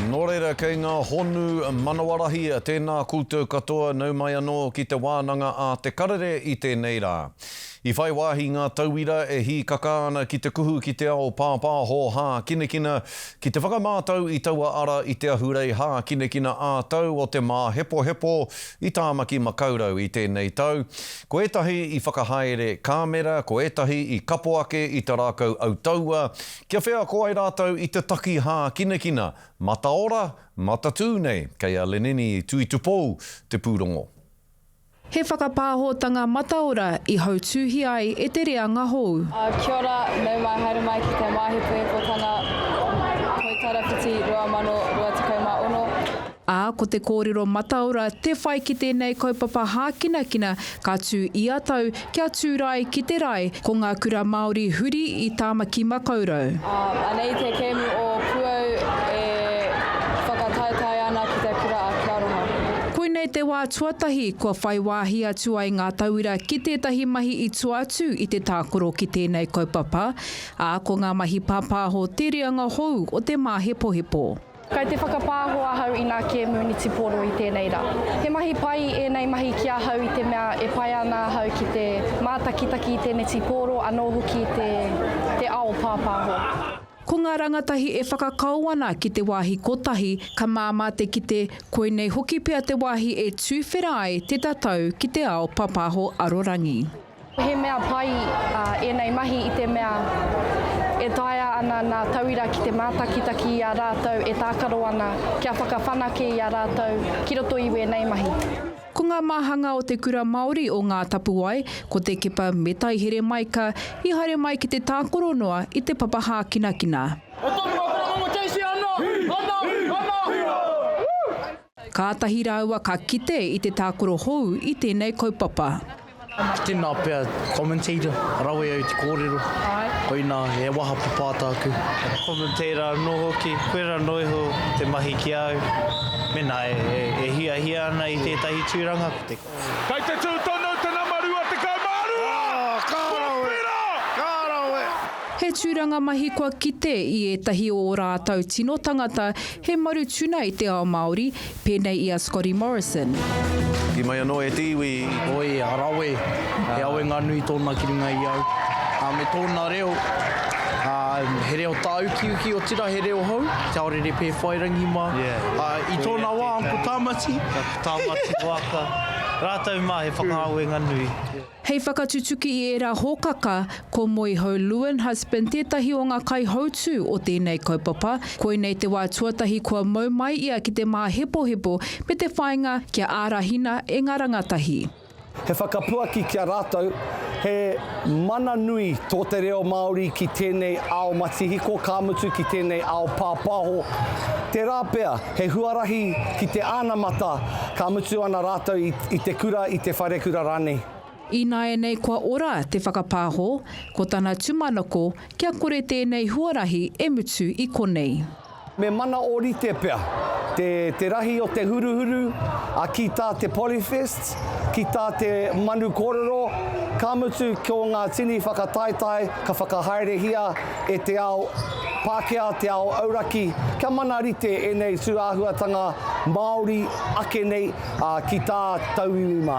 Nō reira, kei ngā honu manawarahi tēnā koutou katoa nau mai anō ki te wānanga a Te Karere i tēnei rā. I whai wāhi ngā tauira e hīkaka ana ki te kuhu ki te ao pāpāho hākinakina, ki te whakamātau i taua ara i te ahurei hākinakina ā-tau o te māhepohepo i Tāmaki Makaurau i tēnei tau. Ko ētahi i whakahaere kāmera, ko ētahi i kapo ake i te rākau autaua, Kia wheako ai rātou i te taki hākinakina, mataora, matatū nei, kei a Leneni Tuitupou te pūrongo. He whakapāhotanga mataora i hautūhia ai e te reanga hou. Kia ora, nau mai, haere mai ki te Māhi Puhekotanga Toi Tarawhiti 2026. ā, ko te kōrero mataora te whai ki tēnei kaupapa hākinakina ka tū ia tau kia tūrae ki te rae ko ngā kura Māori huri i Tāmaki Makaurau. Anei te kēmu o Puau e whakataetae ana ki te kura a Kia Rongo. Koinei te wā tuatahi kua whai wāhi atu ai ngā tauira ki tētahi mahi i tua atu i te tākoro ki tēnei kaupapa, ā, ko ngā mahi pāpāho te reanga hou o te māhepohepo. Kei te whakapāho ahau i ngā kēmu nitipōro i tēnei rā. He mahi pai ēnei mahi ki ahau i te mea e pai ana ahau ki te mātakitaki i te nitipōro anō hoki te ao pāpāho. Ko ngā rangatahi e whakakao ana ki te wāhi kotahi ka māmā te kite koinei hoki pea te wāhi e tūwhera ai te tatau ki te ao pāpāho arorangi. Ko he mea pai ēnei mahi i te mea e taea ana ngā tauira ki te mātakitaki i a rātou e tākaro ana kia whakawhanake i a rātou ki roto i wēnei mahi. Ko ngā māhanga o Te Kura Māori o Ngā Tapuwae, ko Te Kepa me Taihere Maika, i haere mai ki te tākoro noa i te papa hākinakina. Kātahi rāua ka kite i te tākaro hou i tēnei kaupapa. Tēnā pea commentator, rawe au te kōrero, koinā he waha papaata aku. Commentator anō hoki, koe rano iho te mahi ki a au, mēnā e hiahia ana i tētahi tūranga ko te. Kei te tū tonu te nama 22! Ka rawe! Ka rawe! He tūranga mahi kua kite i ētahi o ō rātau tino tangata He maru tuna i te ao Māori, pēnei i a Scotty Morrison. Hoki mai anō e te iwi. Oi, rawe. He awenga nui tōna ki runga i au. Ā, me tōna reo, ā, he reo tāukiuki, otirā he reo hou, kia ora e rere pēwhai rangi mā. Ā, i tōna wā, ko Tāmati. Tāmati waka. Rātou mā he whakaawenga nui. Hei whakatutuki i ērā hōkaka, ko Moihau Leuenhusband tētahi o ngā kaihautū o tēnei kaupapa. Koinei te wā tuatahi kua mau mai ia ki te māhepohepo me te whāinga kia ārahina e ngā rangatahi. He whakapuaki ki a rātou, he mana nui tō te reo Māori ki tēnei ao matihiko, ka mutu ki tēnei ao pāpāho, tērā pea He huarahi ki te anamata, ka mutu ana rātou i te kura, i te wharekura rānei. Ināianei kua ora te whakapāho, ko tana tumanako kia kore tēnei huarahi e mutu i konei. Me mana ōrite pea te rahi o te huruhuru, ā, ki tā te Polyfest, ki tā te Manu Kōrero, ka mutu ko ngā tini whakataetae ka whakahaerehia e te ao, Pākehā te ao auraki, kia mana rite ēnei tūāhuatanga Māori ake nei ki tā tauiwi mā.